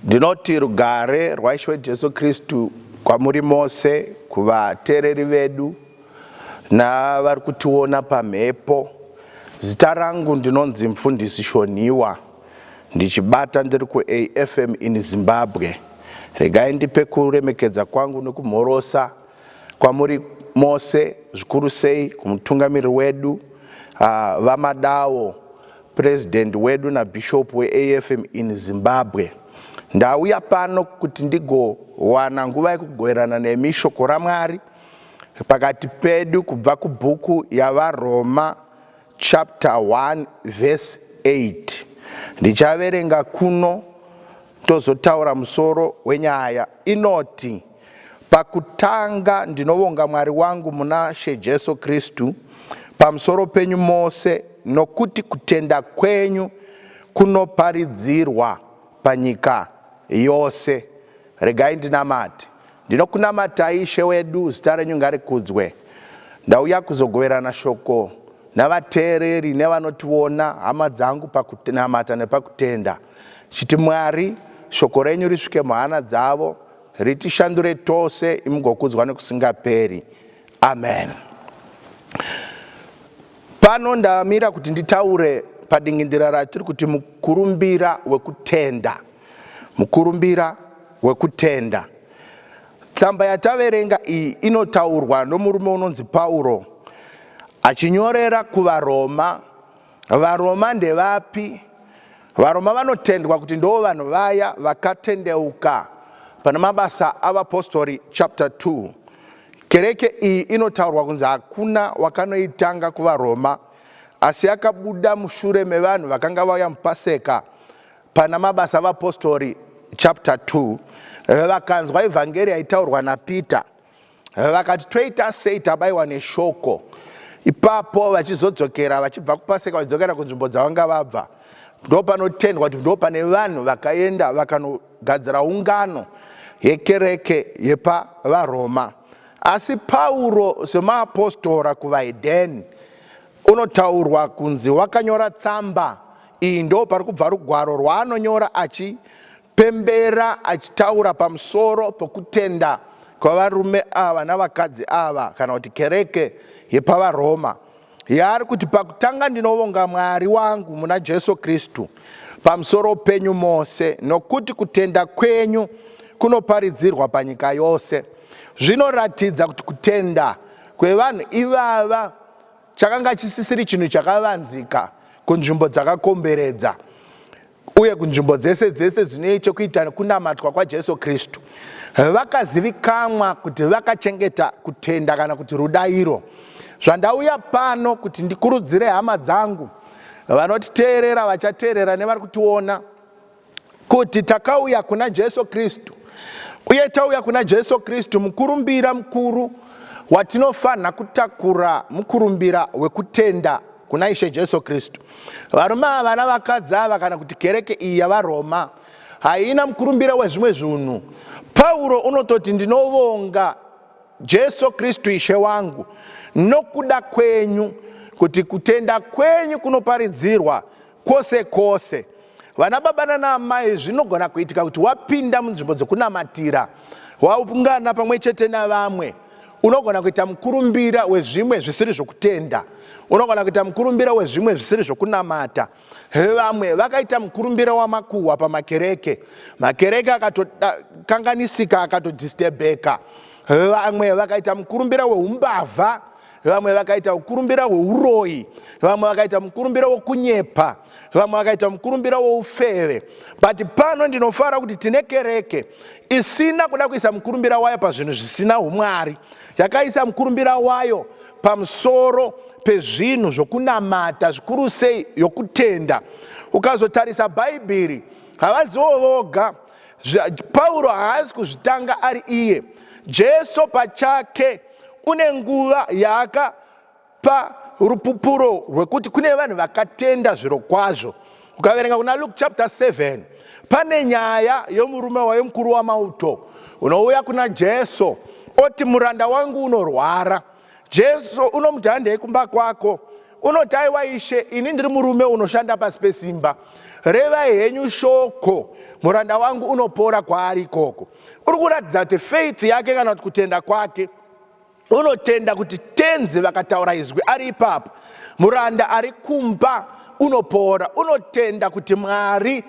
Ndinoti rugare rwaIshe Jesu Kristu kwamuri mose, kuvateereri vedu navari kutiona pamhepo. Zita rangu ndinonzi Mfundisi Shonhiwa, ndichibata ndiri kuAFM in Zimbabwe. Regai ndipe kuremekedza kwangu nekumhorosa Kwamuri mose, zvikuru sei kumutungamiriri wedu VaMadawo, President wedu naBishop weAFM in Zimbabwe. Ndauya pano kuti ndigowana nguva yekugoverana nemi Shoko raMwari pakati pedu kubva kubhuku yaVaRoma chapter 1 verse 8 ndichaverenga kuno tozotaura musoro wenyaya inoti pakutanga ndinovonga mwari wangu muna she jesu kristu pamusoro penyu mose nokuti kutenda kwenyu kunoparidzirwa panyika yose regai ndinamati Ndinokunamatai Ishe wedu, zita renyu ngarikudzwe. Ndauya kuzogoverana shoko navateereri nevanotiona, hama dzangu, pakunamata nepakutenda, chiti Mwari, shoko renyu risvike muhana dzavo, ritishandure tose, imugokudzwa nekusingaperi. Amen. Pano ndamira kuti nditaure padingindira ratiri kuti mukurumbira wekutenda. Mukurumbira wekutenda. Tsamba yataverenga iyi inotaurwa nomurume unonzi Pauro achinyorera kuvaRoma. VaRoma ndevapi? VaRoma vanotendwa kuti ndoo vanhu vaya vakatendeuka pana mabasa avapostori chapter 2. Kereke iyi inotaurwa kunzi hakuna wakanoitanga kuvaRoma asi yakabuda mushure mevanhu vakanga vauya mupaseka Pana Mabasa Vapostori chapter 2 vakanzwa evhangeri yaitaurwa naPeter vakati toita sei tabaiwa neshoko ipapo vachizodzokera vachibva kupaseka vachidzokera kunzvimbo dzavanga vabva ndo panotendwa kuti ndo pane vanhu vakaenda vakanogadzira ungano yekereke yepavaroma asi pauro semaapostora kuvahedheni unotaurwa kunzi wakanyora tsamba Iyi ndo pari kubva rugwaro rwaanonyora achipembera achitaura pamusoro pokutenda kwavarume ava navakadzi ava kana kuti kereke yepavaroma yaari kuti pakutanga ndinovonga mwari wangu muna jesu kristu pamusoro penyu mose nokuti kutenda kwenyu kunoparidzirwa panyika yose zvinoratidza kuti kutenda kwevanhu ivava chakanga chisisiri chinhu chakavanzika kunzvimbo dzakakomberedza uye kunzvimbo dzese dzese dzine chekuita kunamatwa kwajesu kristu vakazivikanwa kuti vakachengeta kutenda kana kuti rudairo zvandauya pano kuti ndikurudzire hama dzangu vanotiteerera vachateerera nevari kutiona kuti takauya kuna Jesu Kristu uye tauya kuna Jesu Kristu, mukurumbira mukuru watinofanha kutakura mukurumbira wekutenda kuna Ishe Jesu Kristu. Varume ava navakadzi ava kana kuti kereke iyi yavaRoma haina mukurumbira wezvimwe zvinhu. Pauro unototi ndinovonga Jesu Kristu Ishe wangu nokuda kwenyu kuti kutenda kwenyu kunoparidzirwa Kwose kwose, vana baba nana amai, zvinogona kuitika kuti wapinda munzvimbo dzokunamatira, waungana pamwe chete navamwe unogona kuita mukurumbira wezvimwe zvisiri zvokutenda unogona kuita mukurumbira wezvimwe zvisiri zvokunamata vamwe vakaita mukurumbira wamakuhwa pamakereke makereke akatokanganisika akatodistebheka vamwe vakaita mukurumbira weumbavha vamwe vakaita mukurumbira hweuroyi vamwe vakaita mukurumbira wokunyepa vamwe vakaita mukurumbira woufeve but pano ndinofara kuti tine kereke isina kuda kuisa mukurumbira wayo pazvinhu zvisina umwari yakaisa mukurumbira wayo pamusoro pezvinhu zvokunamata zvikuru sei yokutenda ukazotarisa bhaibheri havadziwo voga Pauro haazi kuzvitanga ari iye. Jesu pachake une nguva yaakapa rupupuro rwekuti kune vanhu vakatenda zviro kwazvo. Ukaverenga kuna Luke chapter 7 pane nyaya yomurume wayo mukuru wamauto unouya kuna Jesu oti muranda wangu unorwara Jesu unomuti handei kumba kwako unoti aiwa ishe ini ndiri murume unoshanda pasi pesimba revai henyu shoko muranda wangu unopora kwaari ikoko uri kuratidza kuti faith yake kana kuti kutenda kwake unotenda kuti tenzi vakataura izwi ari ipapo muranda ari kumba unopora unotenda kuti mwari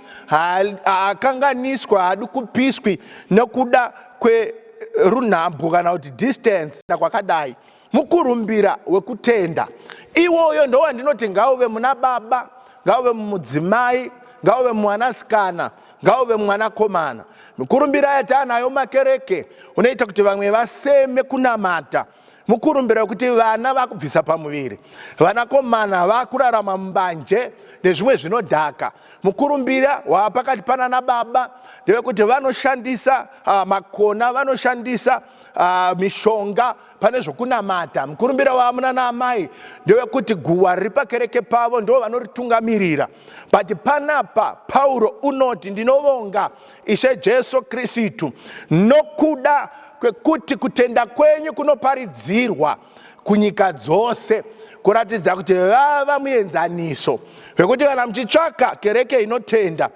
haakanganiswa haadi kupiswi nekuda kwerunhambwo kana kuti distance kwakadai mukurumbira wekutenda iwoyo ndowandinoti ngauve muna baba ngauve mumudzimai ngauve mwanasikana ngauve mwanakomana mukurumbira yataanayo makereke unoita kuti vamwe vaseme kunamata mukurumbira wekuti vana vakubvisa pamuviri vanakomana vakurarama mumbanje nezvimwe zvinodhaka mukurumbira wava pakati panana baba ndevekuti vanoshandisa uh, makona vanoshandisa uh, mishonga pane zvokunamata mukurumbira wava munana amai ndewekuti guwa riri pakereke pavo ndo vanoritungamirira but panapa pauro unoti ndinovonga Ishe Jesu Kristu, nokuda kwekuti kutenda kwenyu kunoparidzirwa kunyika dzose kuratidza kuti vava muenzaniso wekuti kana muchitsvaka kereke inotenda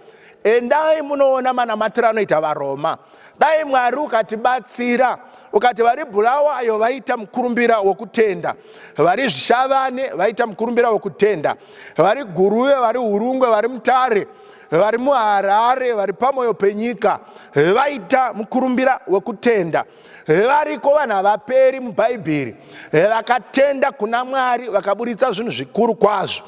endai munoona manamatiro anoita varoma dai mwari ukatibatsira ukati vari bulawayo vaita mukurumbira wokutenda vari zvishavane vaita mukurumbira wokutenda vari guruve vari urungwe vari mutare vari muharare vari pamoyo penyika vaita mukurumbira wekutenda variko vanhu havaperi mubhaibheri vakatenda kuna mwari vakaburitsa zvinhu zvikuru kwazvo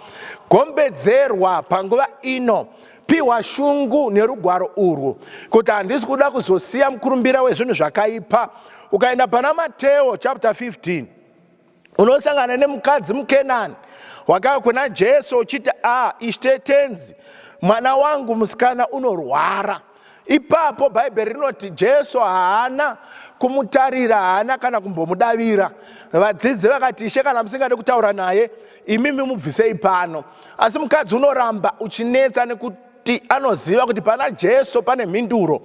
gombedzerwa panguva ino piwa shungu nerugwaro urwu kuti handisi kuda kuzosiya mukurumbira wezvinhu zvakaipa ukaenda pana mateo chapter 15 unosangana nemukadzi mukenani wakava kuna jesu uchiti a ishe tenzi mwana wangu musikana unorwara ipapo bhaibheri rinoti jesu haana kumutarira haana kana kumbomudavira vadzidzi vakati ishe kana musingade kutaura naye imimi mubvisei pano asi mukadzi unoramba uchinetsa nekuti kuti anoziva kuti pana jesu pane mhinduro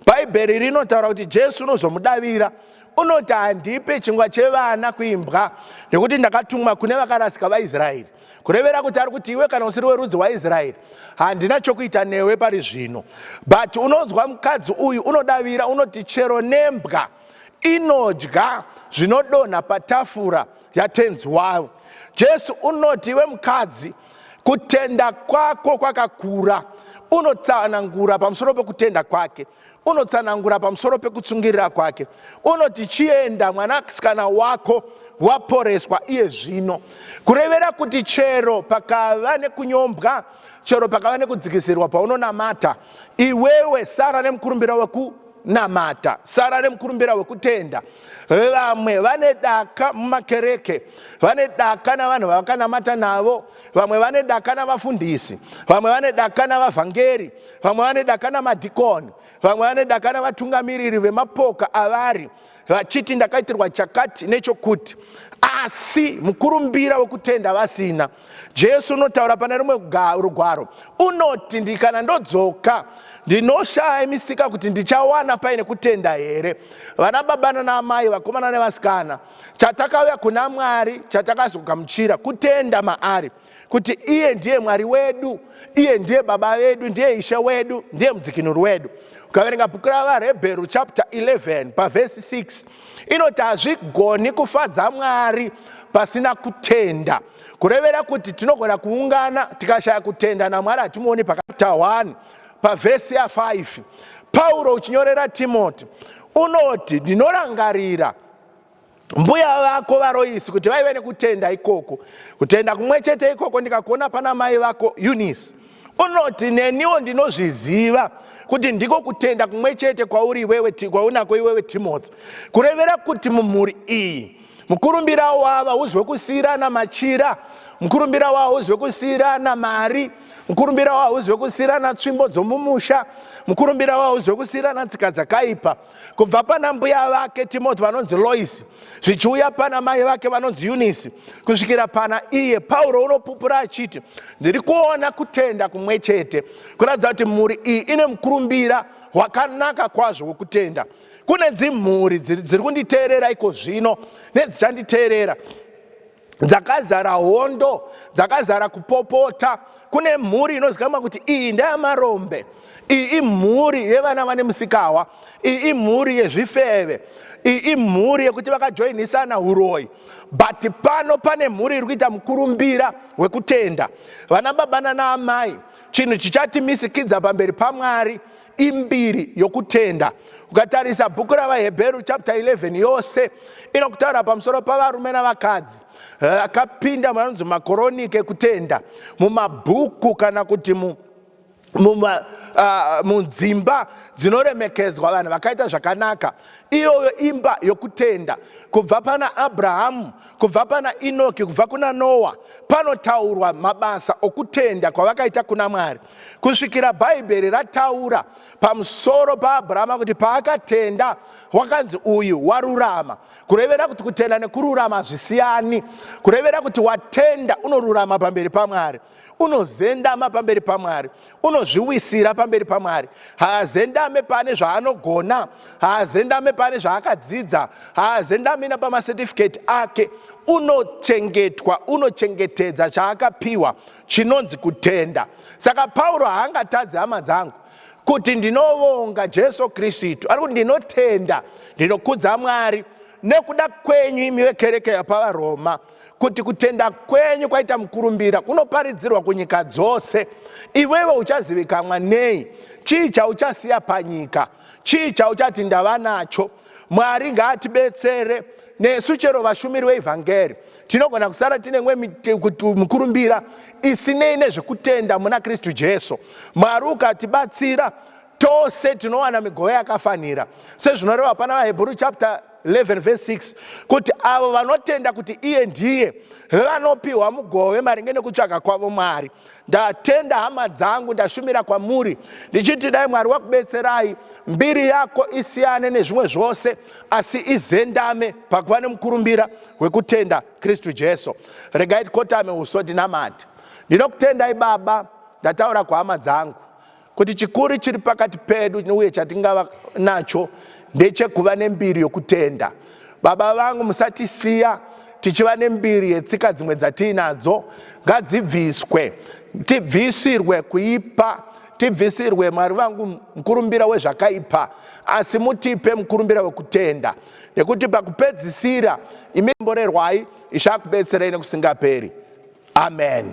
bhaibheri rinotaura kuti jesu unozomudavira unoti handipe chingwa chevana kuimbwa nekuti ndakatumwa kune vakarasika vaisraeri kurevera kuti ari kuti iwe kana usiri werudzi waisraeri handina chokuita newe pari zvino but unonzwa mukadzi uyu unodavira unoti chero nembwa inodya zvinodonha patafura yatenzi wavo jesu unoti iwe mukadzi kutenda kwako kwakakura unotsanangura pamusoro pekutenda kwake unotsanangura pamusoro pekutsungirira kwake unoti chienda mwanasikana wako waporeswa iye zvino kurevera kuti chero pakava nekunyombwa chero pakava nekudzikisirwa paunonamata iwewe sara nemukurumbira weku namata sara remukurumbira wekutenda vamwe vane daka mumakereke vane daka navanhu vavakanamata navo vamwe vane daka navafundisi vamwe vane daka navavhangeri vamwe vane daka namadhikoni vamwe vane daka navatungamiriri vemapoka avari vachiti ndakaitirwa chakati nechokuti asi mukurumbira wekutenda vasina jesu unotaura pane rumwe rugwaro unoti ndikana ndodzoka ndinoshaya misika kuti ndichawana paine kutenda here vana baba nanaamai vakomana nevasikana chatakauya kuna mwari chatakazogamuchira kutenda maari kuti iye ndiye mwari wedu iye ndiye baba vedu ndiye ishe wedu ndiye mudzikinuri wedu ukaverenga bhuku ravarebheru chapter 11 pavhesi 6 inoti hazvigoni kufadza mwari pasina kutenda kurevera kuti tinogona kuungana tikashaya kutenda namwari hatimuoni pakapita 1 pavhesi ya5 pauro uchinyorera timoti unoti ndinorangarira mbuya vako varoisi kuti vaive nekutenda ikoko kutenda kumwe chete ikoko ndikakuona pana mai vako eunice unoti neniwo ndinozviziva kuti ndiko kutenda kumwe chete kwauri iwewe kwaunako iwewe timothy kurevera kuti mumhuri iyi mukurumbira wava uzwe kusiyirana machira mukurumbira wava uzwe kusiyirana mari mukurumbira wava uzwe kusiyirana tsvimbo dzomumusha mukurumbira wava uzwe kusiyirana tsika dzakaipa kubva pana mbuya vake timoti vanonzi loisi zvichiuya pana mai vake vanonzi yunisi kusvikira pana iye pauro unopupura achiti ndiri kuona kutenda kumwe chete kuratidza kuti mhuri iyi ine mukurumbira wakanaka kwazvo wekutenda kune dzimhuri dziri kunditeerera iko zvino nedzichanditeerera dzakazara hondo dzakazara kupopota kune mhuri inozikamwa kuti iyi ndeyamarombe iyi imhuri yevana vane musikahwa iyi imhuri yezvifeve iyi imhuri yekuti vakajoinisana uroyi but pano pane mhuri iri kuita mukurumbira wekutenda vana baba nana amai chinhu chichati misikidza pamberi pamwari imbiri yokutenda ukatarisa bhuku ravaheberu chapter 11 yose inokutaura pamusoro pavarume navakadzi eh, akapinda muanonzi makoronike kutenda mumabhuku kana kuti mu ah, munzimba dzinoremekedzwa vanhu vakaita zvakanaka iyoyo imba yokutenda kubva pana abrahamu kubva pana inoki kubva kuna noa panotaurwa mabasa okutenda kwavakaita kuna mwari kusvikira bhaibheri rataura pamusoro paabrahama kuti paakatenda wakanzi uyu warurama kurevera kuti kutenda nekururama hazvisiyani kurevera kuti watenda unorurama pamberi pamwari unozendama pamberi pamwari unozviwisira pamberi pamwari haazendame pane zvaanogona haazendame pane zvaakadzidza haazendamina pamacertificate ake unochengetwa unochengetedza chaakapiwa chinonzi kutenda. Saka Pauro haangatadzi hama dzangu kuti ndinovonga Jesu Kristu, ari kuti ndinotenda, ndinokudza Mwari nekuda kwenyu imi vekereke yapavaroma kuti kutenda kwenyu kwaita mukurumbira kunoparidzirwa kunyika dzose, iwewe uchazivikanwa nei? Chii chauchasiya panyika? Chii chauchati ndava nacho? Mwari ngaatibetsere nesu chero vashumiri veivhangeri tinogona kusara tine mwe mukurumbira isinei nezvekutenda muna kristu jesu mwari ukatibatsira tose tinowana migove yakafanira sezvinoreva pana vahebhuru chapter 11 verse 6 kuti avo vanotenda kuti iye ndiye vanopiwa mugove maringe nekutsvaga kwavo mwari ndatenda hama dzangu ndashumira kwamuri ndichiti dai mwari wakubetserai mbiri yako isiyane nezvimwe zvose asi izendame pakuva nemukurumbira wekutenda kristu jesu regai tikotame uso tinamati ndinokutendai baba ndataura kwahama dzangu Kuti chikuru chiri pakati pedu uye chatingava nacho ndechekuva nembiri yokutenda. Baba vangu, musatisiya tichiva nembiri yetsika dzimwe dzatiinadzo ngadzibviswe tibvisirwe kuipa tibvisirwe mwari vangu mukurumbira wezvakaipa asi mutipe mukurumbira wekutenda nekuti pakupedzisira imi mborerwai ichakubetserai nekusingaperi amen